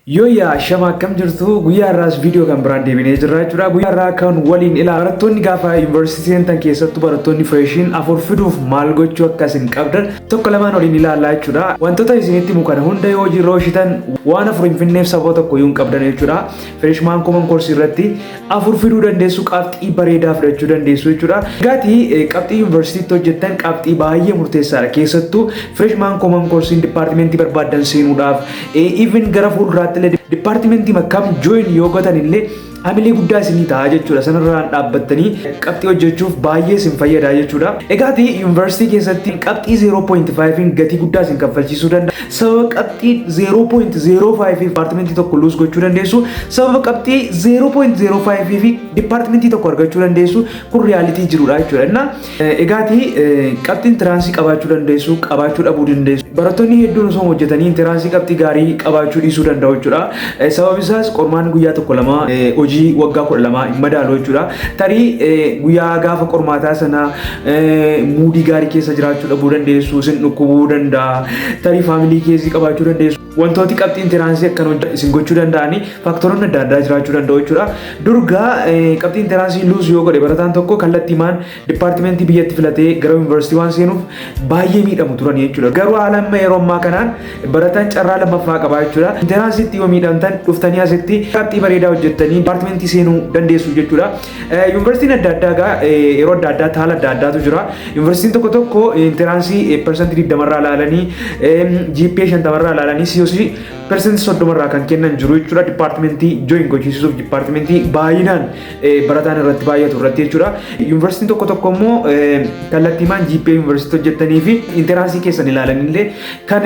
Yooyyaa ashama akkam jirtu guyyaa irraas viidiyoo kan biraan deebinee jirra jechuudha. Guyyaa irraa kan waliin ilaa barattoonni gaafa yuunivarsiitii seentan keessattuu barattoonni fireeshiin afur fiduuf maal gochuu akka isin qabdan tokko lamaan waliin ilaalaa jechuudha. Wantoota isinitti himu kana hunda yoo hojiirra oolchitan waan afur hin finneef sababa tokko yoo hin qabdan jechuudha. Fireeshmaan kooman koorsii irratti afur fiduu dandeessu qabxii bareedaa fidachuu dandeessu jechuudha. Gaati qabxii yuunivarsiitiitti hojjettan qabxii baay'ee murteessaadha. Keessattuu freshman common course dipaartimentii barbaaddan seenuudhaaf even gara fuulduraatti illee dipaartimentii makkam join yoo gotan illee hamilee guddaa isinii ta'a jechuudha. Sanarraan dhaabbattanii qabxii hojjechuuf baay'ee isin fayyada jechuudha. Egaati yuunivarsiitii keessatti qabxii 0.5 gatii guddaa isin kaffalchiisuu danda'a. sababa qabxii 0.05 fi dipaartimentii tokko luus gochuu dandeessu sababa qabxii 0.05 fi dipaartimentii tokko argachuu dandeessu kun riyaalitii jirudha jechuudha inna egaati qabxiin tiraansii qabaachuu dandeessu qabaachuu dhabuu dandeessu barattoonni hedduun osoo hojjetanii tiraansii qabxii gaarii qabaachuu dhiisuu danda'u jechuudha sababni isaas qormaan guyyaa tokko lama hojii waggaa kudha lama hin madaalu jechuudha tarii guyyaa gaafa qormaataa sana muudii gaarii keessa jiraachuu dhabuu dandeessu, isin dhukkubuu danda'a, tarii faamilii keessi qabaachuu dandeessu. Wantooti qabxiin tiraansii akkan hojja isin gochuu danda'anii faaktaroonni adda addaa jiraachuu danda'u jechuudha. Durgaa qabxiin tiraansii luus yoo godhe barataan tokko kallattiimaan dipaartimentii biyyatti filatee gara yuunivarsiitii waan seenuuf baay'ee miidhamu turan jechuudha. Garuu haala amma yeroo ammaa kanaan barataan carraa lammaffaa qabaa jechuudha. Tiraansiitti yoo miidhamtan dhuftanii asitti qabxii bareedaa hojjettanii dipaartimentii seenuu dandeessu jechuudha. Yuunivarsiitiin adda addaa egaa yeroo adda addaa haala adda addaatu jira. Yuunivarsiitiin tokko tokko intiraansii persantii digdama irraa ilaalanii GPA shantama irraa ilaalanii COC persantii soddoma irraa kan kennan jiru jechuudha. Dipaartimentii jooyin gochiisuuf dipaartimentii baay'inaan barataan irratti baay'atu irratti jechuudha. Yuunivarsiitiin tokko tokko immoo kallattiimaan GPA yuunivarsiitii hojjettanii fi intiraansii keessan ilaalanillee kan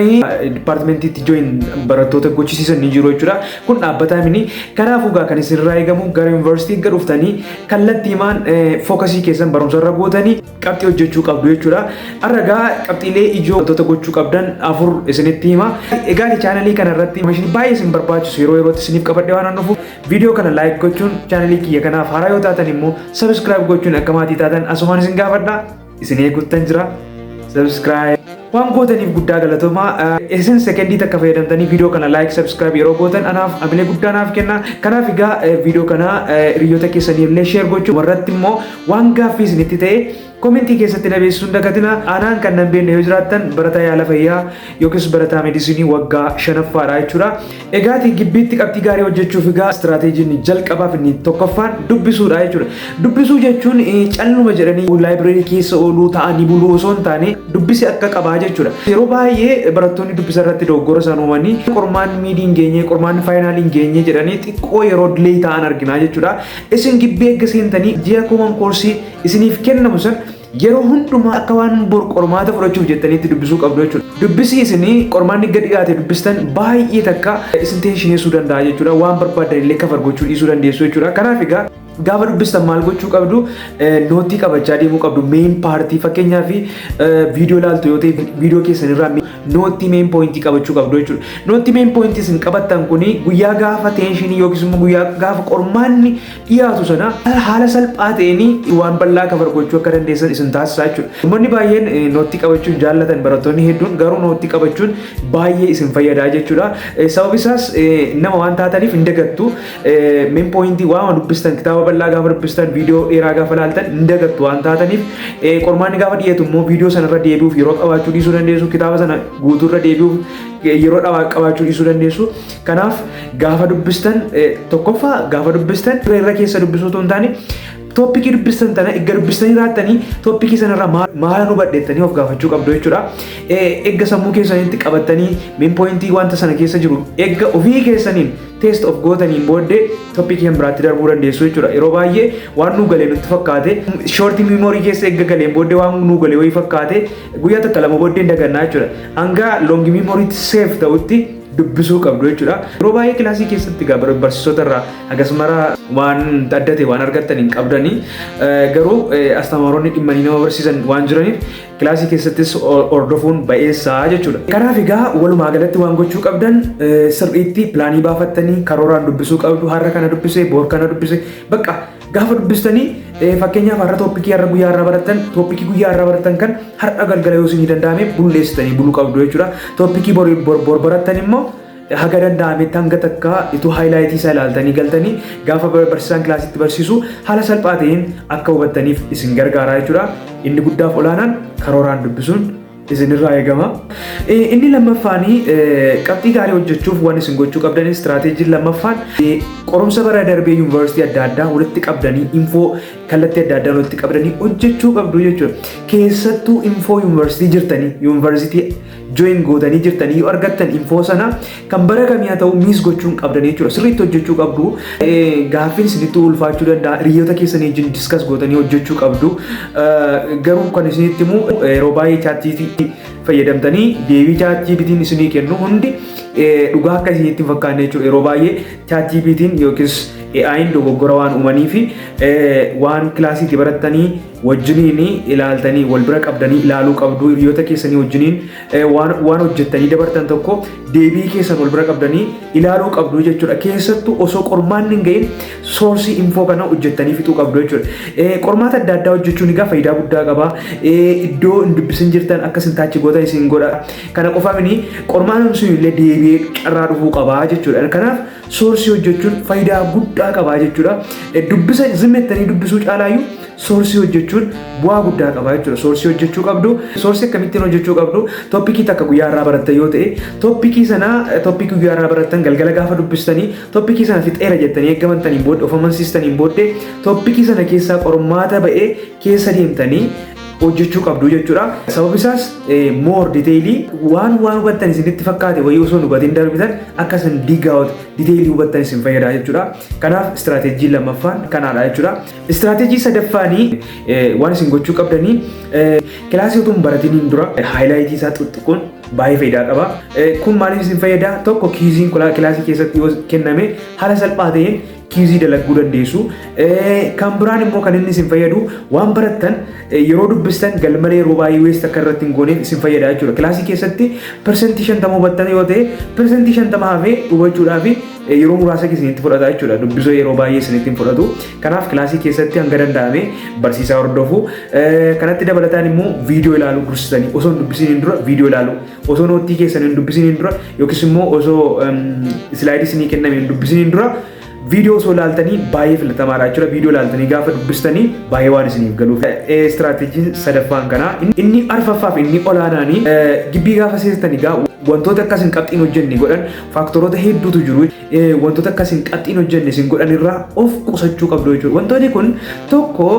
dipaartimentiitti jooyin barattoota gochisiisan ni jiru jechuudha. Kun dhaabbataa mini. Kanaafuu gaa kan isinirraa eegamu gara yuunivarsiitii erga dhuftanii kallattiimaan fookasii keessan barumsarra gootanii qabxii hojjechuu qabdu jechuudha. Har'a gaa qabxiilee ijoo wantoota gochuu qabdan afur isinitti hima. Egaa chaanalii kana irratti meeshaan baay'ee isin barbaachisu yeroo yerootti isiniif qabadhee waan dhufu viidiyoo kana laayik gochuun chaanalii kiyya kanaaf haaraa yoo taatan immoo sabiskiraayib gochuun akka maatii taatan asumaan isin gaafadha. Isin eeguttan jira. Subscribe. Waan gootaniif guddaa galatoomaa. Isin sekendii takka fayyadamtanii viidiyoo kana like subscribe yeroo gootan anaaf hamilee guddaa naaf kenna. Kanaaf egaa viidiyoo kana hiriyoota keessanii illee share gochuu warratti immoo waan gaaffii isinitti ta'e komentii keessatti na beeksisuun dagatina. Anaan kan nan beekne yoo jiraattan barataa yaala fayyaa yookiis barataa medisinii waggaa shanaffaadha jechuudha. Egaati gibbiitti qabxii gaarii hojjechuuf egaa istiraateejiin inni jalqabaa fi inni tokkoffaan dubbisuudha jechuudha. Dubbisuu jechuun eh, calluma jedhanii laayibireerii keessa ooluu ta'anii buluu osoo hin taane dubbisi akka qabaa jechuudha. Yeroo baay'ee barattoonni dubbisa irratti dogoggora isaan uumanii qormaanni miidii hin geenye, qormaanni faayinaalii hin geenye jedhanii xiqqoo yeroo dilee ta'an arginaa jechuudha. Isin gibbii eegga seentanii ji'a kooman koorsii isiniif kennamu san Yeroo hundumaa akka waan bor qormaata fudhachuuf jettaniitti dubbisuu qabdu jechuudha. Dubbisii isin qormaanni gad dhiyaate dubbistan baay'ee takka isin teenshineessuu danda'a jechuudha. Waan barbaadan illee kafar gochuu dhiisuu dandeessu jechuudha. Kanaaf egaa gaafa dubbistan maal gochuu qabdu nootii qabachaa deemuu qabdu meen paartii fakkeenyaaf viidiyoo ilaaltu yoo ta'e viidiyoo keessan irraa nootii meen poointii qabachuu qabdu jechuudha. Nootii meen poointii isin qabattan kuni guyyaa gaafa teenshinii yookiis immoo guyyaa gaafa qormaanni dhiyaatu sana haala salphaa ta'een waan bal'aa kabar gochuu akka dandeessan isin taasisaa jechuudha. Uummanni baay'een nootii qabachuun jaallatan barattoonni hedduun garuu nootii qabachuun baay'ee isin fayyadaa jechuudha. Sababni isaas nama waan taataniif hin dagattu. Min pooyintii waama dubbistan kitaaba bal'aa gaafa dubbistan viidiyoo dheeraa gaafa laaltan hin dagattu waan taataniif qormaanni gaafa dhiyeetu immoo viidiyoo sanarra deebi'uuf yeroo qabaachuu dhiisuu dandeessu kitaaba sana guutuurra deebi'uuf yeroo qabaachuu dhiisuu dandeessu. Kanaaf gaafa dubbistan tokkoffaa gaafa dubbistan ture irra keessa dubbisuu otoo hin taane tooppikii dubbistan tana erga dubbistanii raattanii tooppikii sanarraa maala nu badheettanii of gaafachuu qabdu jechuudha. Eegga sammuu keessanitti qabattanii min pooyintii wanta sana keessa jiru eegga ofii keessaniin teest of gootaniin booddee tooppikii kan biraatti darbuu dandeessu jechuudha. Yeroo baay'ee waan nu galee nutti fakkaate shoortii miimoorii keessa eegga galeen booddee waan nu galee wayii fakkaate guyyaa takka lama booddee dagannaa jechuudha. Hanga loongi miimooriitti seef ta'utti dubbisuu qabdu jechuudha. Yeroo baay'ee kilaasii keessatti egaa bar- barsiisota irraa akkasumara waan adda ta'e waan argattan hin qabdani. Eh, Garuu eh, astamaaronni dhimmanii nama barsiisan waan jiraniif kilaasii keessattis ho- hordofuun ba'eessaa jechuudha. Kanaaf egaa walumaa galatti waan gochuu qabdan eh, sirriitti pilaanii baafattanii karooraan dubbisuu qabdu har'a kana dubbise boor kana dubbise bakka Gaafa dubbistanii eh, fakkeenyaaf har'a tooppikii har'a guyyaa irraa barattan tooppikii guyyaa irraa barattan kan har'a galgala yoo isinii danda'ame bulleessitanii buluu qabdu jechuudha. Tooppikii bor bor bor barattan immoo eh, haga danda'ametti hanga takka ituu haayilaayitii isaa ilaaltanii galtanii gaafa bar- barsiisaan kilaasitti barsiisu haala salphaa ta'een akka hubattaniif isin gargaara jechuudha. Inni guddaaf olaanaan karooraan dubbisuun isinirraa eegama. Eh, Inni lammaffaan eh, qabxii gaarii hojjechuuf waan isin gochuu qabdan istiraateejiin lammaffaan eh, qorumsa bara darbee yuunivarsiitii adda addaa walitti qabdanii infoo kallattii adda addaan walitti qabdanii hojjechuu qabdu jechuudha. Keessattuu infoo yuunivarsiitii jirtanii yuunivarsiitii join gootanii jirtanii yoo argattan infoo sana Kan bara kamii haa ta'u miis gochuun qabdan jechuudha. Sirriitti hojjechuu qabdu. Gaaffiin isinitti ulfaachuu danda'a. Hiriyoota keessanii wajjin diskas gootanii hojjechuu qabdu. Garuu kan isinitti himu yeroo baay'ee chaatjiipiitii fayyadamtanii deebii chaatjiipiitiin isinii kennu hundi dhugaa akka isinitti hin fakkaanne jechuudha. Yeroo baay'ee chaatjiipiitiin yookiis AI'n dogoggora waan uumanii fi waan kilaasiitti barattanii wajjiniin ilaaltanii wal bira qabdanii ilaaluu qabdu hiriyoota keessanii wajjiniin waan waan hojjettanii dabartan tokko deebii keessan wal bira qabdanii ilaaluu qabdu jechuudha. Keessattuu osoo qormaanni hin gahin soorsii infoo kana hojjettanii fixuu qabdu jechuudha. Eh, Qormaata adda addaa hojjechuun egaa faayidaa guddaa qaba. Eh, Iddoo hin dubbisin jirtan akka isin taachi goota isin godha. Kana qofa miti qormaanni sun illee deebi'ee carraa dhufuu qaba jechuudha. Kanaaf soorsii hojjechuun faayidaa guddaa qabaa jechuudha. Dubbisa zimmi jettanii dubbisuu caalaayyuu soorsii hojjechuun bu'aa guddaa qabaa jechuudha. Soorsii hojjechuu qabdu, soorsii akkamittiin hojjechuu qabdu, toppikii takka guyyaa irraa baratta yoo ta'e, toppikii sana toppikii guyyaa irraa barattan galgala gaafa dubbistanii, toppikii sana fixeera jettanii eeggamantaniin booddee, of amansiistaniin booddee, toppikii sana keessaa qormaata ba'ee keessa deemtanii hojjechuu qabdu jechuudha. Sababni isaas moor diteelii waan waan hubattan isinitti fakkaate wayii osoo hin hubatin darbitan akka isin digaawut diteelii hubattan isin fayyada jechuudha. Kanaaf istiraateejii lammaffaan kanaadha jechuudha. Istiraateejii sadaffaanii waan isin gochuu qabdanii kilaasii utuu hin baratiniin dura haayilaayitii isaa xuxxuquun baay'ee faayidaa qaba. Kun maaliif isin fayyada? Tokko kiiziin kilaasii keessatti yoo kenname haala salphaa ta'een kiizii dalagguu dandeessu. Kan biraan immoo kan inni isin fayyadu waan barattan yeroo dubbistan galmalee yeroo baay'ee weest akka irratti hin gooneef isin fayyada jechuudha. Kilaasii keessatti persentii shantama hubattan yoo ta'e persentii shantama hafee hubachuudhaaf yeroo muraasa isinitti fudhata jechuudha. Dubbisoo yeroo baay'ee isinitti hin fudhatu. Kanaaf kilaasii keessatti hanga danda'ame barsiisaa hordofu. Kanatti dabalataan immoo viidiyoo ilaaluu dursitanii osoo hin dubbisiin dura viidiyoo ilaaluu. Osoo noottii keessan hin dubbisiniin dura yookiis immoo osoo islaayidii isinii kenname hin dubbisiniin dura viidiyoo osoo laaltanii baay'ee filatamaadha jechuudha. Viidiyoo laaltanii gaafa dubbistanii baay'ee waan isiniif galuuf. Istiraateejiin sadaffaan kanaa inni arfaffaa fi inni olaanaanii gibbii gaafa seestanii gaa wantoota akkas hin qabxiin hojjenne godhan faaktoroota hedduutu jiru. Wantoota akkas hin qabxiin hojjenne isin godhan irraa of qusachuu qabdu jechuudha. Wantoonni kun tokko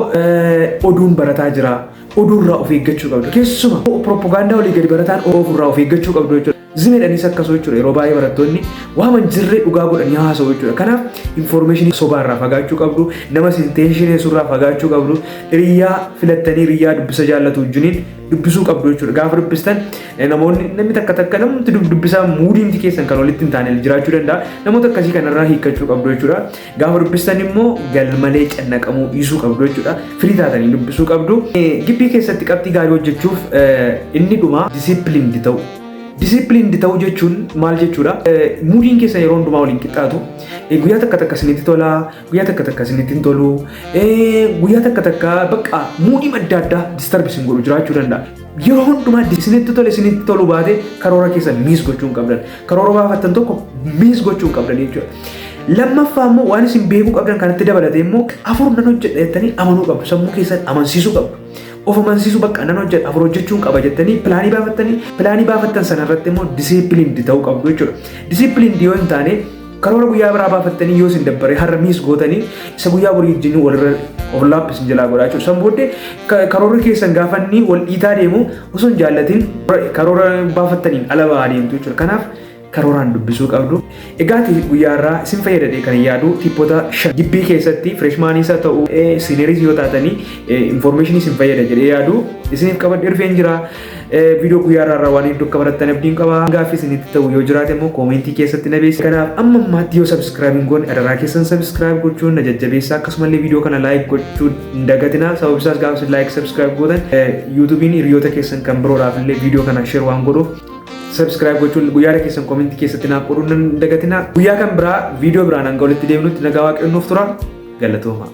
oduun barataa jira. oduu irraa of eeggachuu qabdu. Keessuma piroopagaandaa olii gadi barataan oofu irraa of eeggachuu qabdu jechuudha. Zimedhanis akkasuma jechuudha. Yeroo baay'ee barattoonni waan hin jirre dhugaa godhanii haasa'u jechuudha. Kanaaf infoormeeshinii sobaa irraa fagaachuu qabdu, nama isin teenshineessu irraa fagaachuu qabdu, hiriyaa filattanii hiriyaa dubbisa jaallatu wajjiniin dubbisuu qabdu jechuudha. Gaafa dubbistan eh, namoonni namni takka takka namni dubbisaa muudiinti keessan kan walitti hin taane jiraachuu danda'a. Namoota akkasii kanarraa hiikkachuu qabdu jechuudha. Gaafa dubbistan immoo galmalee cannaqamuu dhiisuu qabdu jechuudha. Firii taatanii dubbisuu qabdu. Gibbii keessatti qabxii gaarii hojjechuuf inni dhumaa disipiliindi ta'u. Disipiliindi ta'u jechuun maal jechuudha? Muudiin keessan yeroo hundumaa waliin qixxaatu. Guyyaa takka takka isinitti tola, guyyaa takka takka isinitti hin tolu, guyyaa takka takka bakka muudii adda addaa distarbi isin godhu jiraachuu danda'a. Yeroo hundumaa isinitti tole isinitti tolu baate karoora keessan miis gochuu hin qabdan. Karoora baafattan tokko miis gochuun qabdan jechuudha. Lammaffaa immoo waan isin beekuu qabdan kanatti dabalatee immoo afur nan hojjedha jettanii amanuu qabdu. Sammuu keessan amansiisuu qabdu. Of amansiisuu bakka nan hojjedha afur hojjechuun qaba jettanii pilaanii baafattanii pilaanii baafattan sana irratti immoo disiipiliindi ta'uu qabdu jechuudha. Disiipiliindi yoo hin taane Karoora guyyaa biraa baafattanii yoo isin dabbare har'a miis gootanii isa guyyaa borii wajjin walirra overlap isin jalaa godhaa jechuudha. San booddee ka- karoorri keessan gaafa inni wal dhiitaa deemu osoo hin jaallatin karoora baafattaniin ala ba'aa deemtu jechuudha. Kanaaf karooraan dubbisuu qabdu. Egaa ati guyyaa irraa isin fayyadadhee kan yaadu tippota shan gibbii keessatti fireeshmaaniis haa ta'u siiniiris yoo taatanii infoormeeshinii isin fayyada jedhee yaadu isiniif qabadhee dhufeen jira. Viidiyoo guyyaa irraa irraa waan hedduu akka barattan abdiin qaba. Gaaffii isinitti ta'u yoo jiraate immoo koomentii keessatti na beeksisa. Kanaaf amma ammaatti yoo sabiskiraayib hin goone adaraa keessan sabiskiraayib gochuun na jajjabeessa. Akkasumallee viidiyoo kana laayik gochuu hin dagatinaa. Sababni isaas gaafa isin laayik sabiskiraayib gootan yuutuubiin hiriyoota keessan kan biroodhaaf illee viidiyoo kana sheer waan godhuuf sabiskiraayib gochuun guyyaa keessan koomentii keessatti naaf qooduu hin dagatinaa. Guyyaa kan biraa viidiyoo biraan hanga walitti deemnutti nagaa waaqayyoon nuuf tura. Galatoomaa.